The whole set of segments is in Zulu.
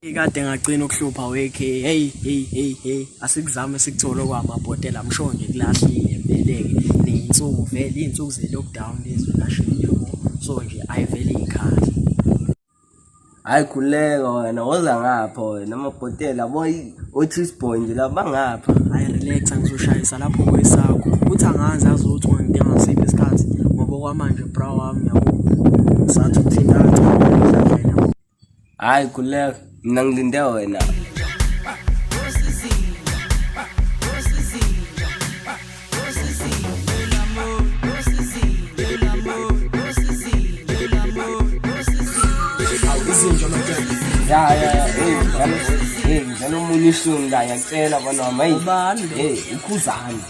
Ikade ngagcina ukuhlupha wekhe hey hey hey hey asikuzame sikuthole kwamabhotela msho nje kulahlile veleke neyinsuku vele izinsuku ze lockdown lezi nashini so nje ayivele ikhaya hayi khuleka wena woza ngapha wena amabhotela boy othi isibhoyi nje la bangapha hayi relax angizoshayisa lapho kwesakho kuthi angazi azothi ungangidinga ngasiphi isikhathi ngoba okwamanje bra wami yabo sathi uthintana Hayi khuleka, mina ngilinde wena. Ya ya ya, hey, ngidlala omunye ihlungu la, ngiyacela bana, hey, hey, ukhuzani.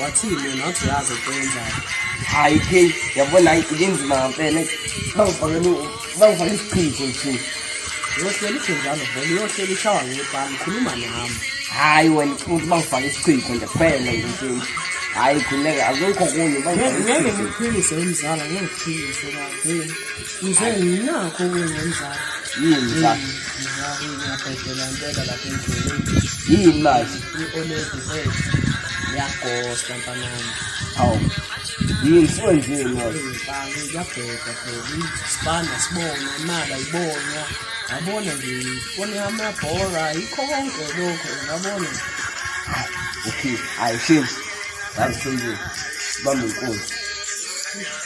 wathini yena wathi uyazi ukwenza hayi ke yabona hayi kunzima ngempela bangifakele bangifakele isichitho nje uyohlela isinjalo vele uyohlela ishawa ngepani khuluma nami hayi wena ufuna ukuthi bangifake isichitho nje kuphela nje nje hayi khuleka akukho kunye ngeke ngiphilise umzala ngeke ngiphilise Ngize nginakho ukungenzani. Yini la? Ngiyabhedela impela lapha endleleni. Yini manje? I-oledi zethu yagosta mfanami. Hawu. Yini siwenzile manje? Ngiyabheda phela. Sibanda sibona imali ayibona. Yabona nje ifone amabhora yikho konke lokho ngabona. Okay, ayishini. Ngazisenzile. Bamba inkunzi.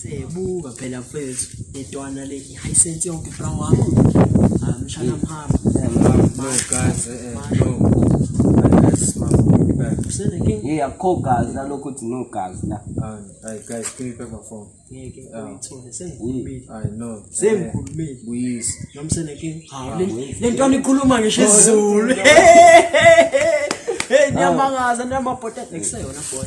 sebuka phela mfethu intwana le hayi sense yonke bra wakho amshana mhamba makaze eh no Hey, akho gazi nalokho uthi no gazi la. Hayi guys, give me back my phone. Ngeke uyithole sengikhulumile. Hayi no. Sengikhulumile. Buyisa. Nomsene ke. Hawu le ntwana ikhuluma ngisho isiZulu. Hey, nyamangaza namabhote nekuseyona boy.